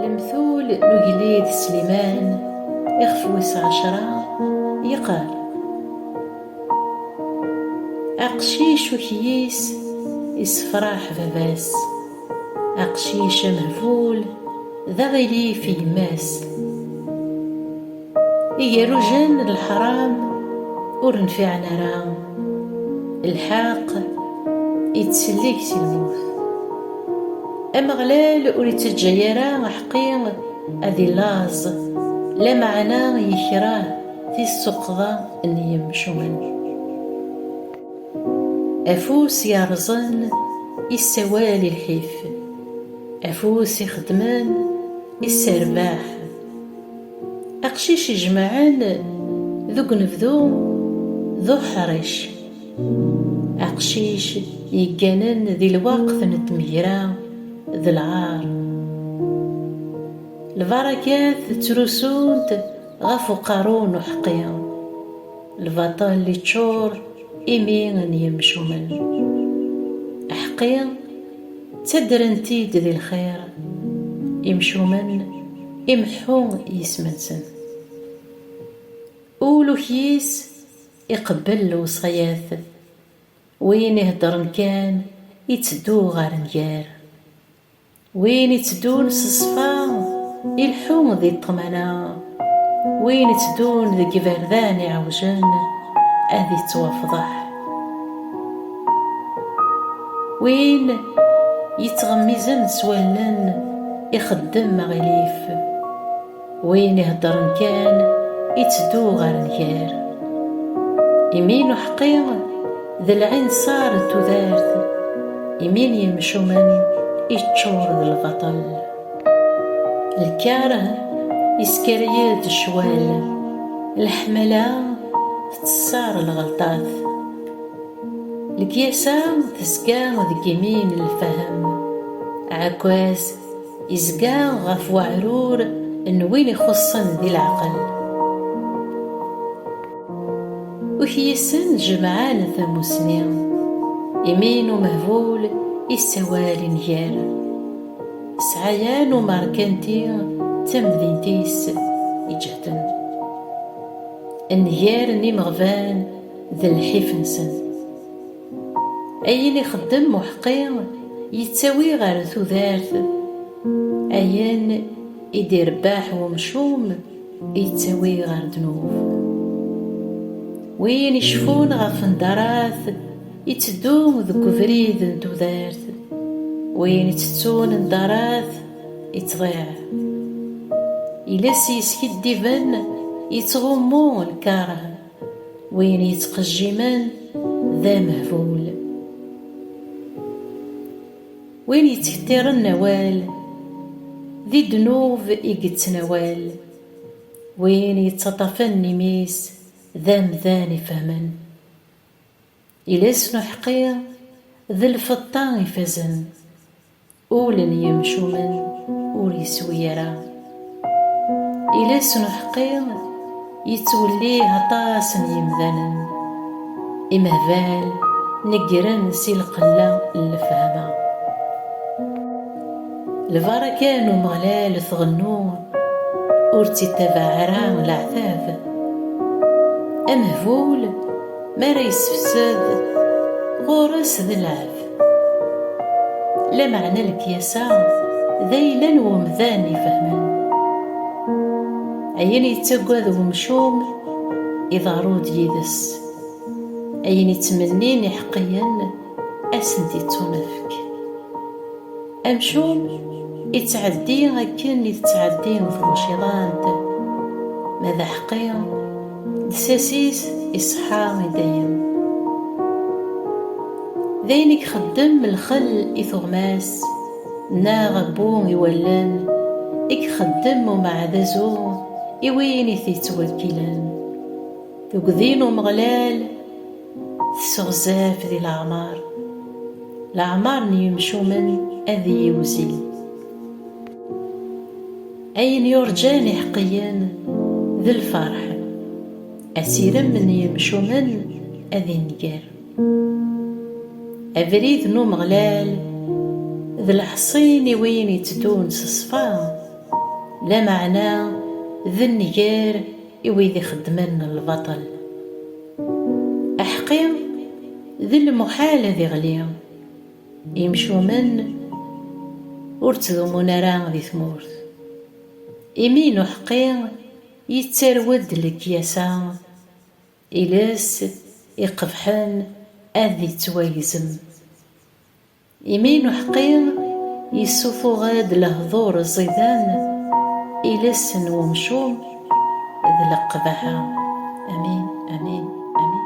Lemtul n ugellid Sliman ixef wis ɛecra yeqqar Aqcic ukyis isefraḥ baba-s, aqcic amehbul d aɣilif i yemma-s. Igerujen n leḥram ur nfiɛen ara, lḥeqq ittsellik si lmut. Ameɣlal ur ittaǧǧay ara aḥeqqi ad illaẓ, lameɛna yekreh tissuqḍa n yimcumen. Afus yerrẓen yessawal i lḥif, afus ixeddmen yesserbaḥ. Aqcic ijemɛen deg unebdu d uḥric. Aqcic yegganen di lweqt n tmegra d lɛar. Lbarakat ttrusunt ɣef uqerru n uḥeqqi. Lbaṭel iččur imi n yemcumen. Aḥeqqi. Ttaddren-t-id di lxir imcumen imeḥḥu yisem-nsen. Ul ukyis iqebbel lewṣayat, win iheddren kan iteddu ɣer nnger. Win iteddun s ṣṣfa ileḥḥu di ṭṭmana. Win itteddun deg iberdan iɛewjen ad ittwafḍeḥ. Win yettɣemmizen s wallen ixeddem aɣilif. Win iheddren kan itteddu ɣer nnger. Imi n uḥeqqi d lɛinṣer n tudert, imi n yimcumen iččur d lbaṭel. Lkar isker-iyi-d ccwal, leḥmala tettṣar lɣelṭat. Lekyasa tezga deg yimi n lfahem, aɛekkaz izga ɣef weɛrur n win ixuṣṣen di leɛqel. Ukyisen jemɛen tamusni, imi n umehbul yessawal i nnger. Sɛaya n umerkanti d tamdint-is iǧehden. Nnger n imeɣban d lḥif-nsen. Ayen ixeddem Muḥqi yettawi ɣer tudert, ayen i d-irebbaḥ wemcum yettawi ɣer ddnub. Win icfun ɣef Ndarat, Itteddu deg ubrid n tudert, win ittettun ddarat ittḍiɛ. Iles yeskiddiben ittɣummu lkaṛeh, win yettqejjimen d amehbul. Win yettkettiren awal, di ddnub i yettnawal, win yettaṭṭafen imi-s d amdan ifehmen. Iles n uḥeqqi d lfeṭṭa ifazen, ul n yimcumen ur yeswi ara. Iles n uḥeqqi yettwellih aṭas n yimdanen, imehbal neggren si lqella n lefhama. Lbaraka n Umeɣlal tɣennu ur tt-ittabaɛ ara leɛtab. Amehbul mi ara yessefsed ɣur-s d lɛeb. Lameɛna lekyasa d ayla n wemdan ifehmen. Ayen yettagad wemcum iḍerru-d yid-s. Ayen ittmennin iḥeqqiyen. ad sen-d-yettunefk. Amcum ittɛeddi akken i tettɛeddi tbuciḍant, ma d aḥeqqi, lsas-is iṣeḥḥa i dayem. D ayen i ixeddem lxel i tuɣmas neɣ abbu i wallen i ixeddem umeɛdazu i win i t-yettwekkilen. Tuggdi n Umeɣlal. Tesseɣzaf di leɛmar. Leɛmar n yimcumen ad iyi-wzin. Ayen yurǧan iḥeqqiyen d lferḥ. Asirem n yimcumen ad inger. Abrid n Umeɣlal d leḥṣin i win itteddun s ṣṣfa, lameɛna d nnger. i wid ixeddmen lbaṭel. Aḥeqqi d lmuḥal ad iɣli, imcumen ur ttdumun ara di tmurt. Imi n uḥeqqi yettarew-d lekyasa, iles iqebḥen ad ittwagzem. Imi n uḥeqqi yessutuɣ-d lehdur ẓidan, iles n wemcum d leqbaḥa. Amin, amin, amin.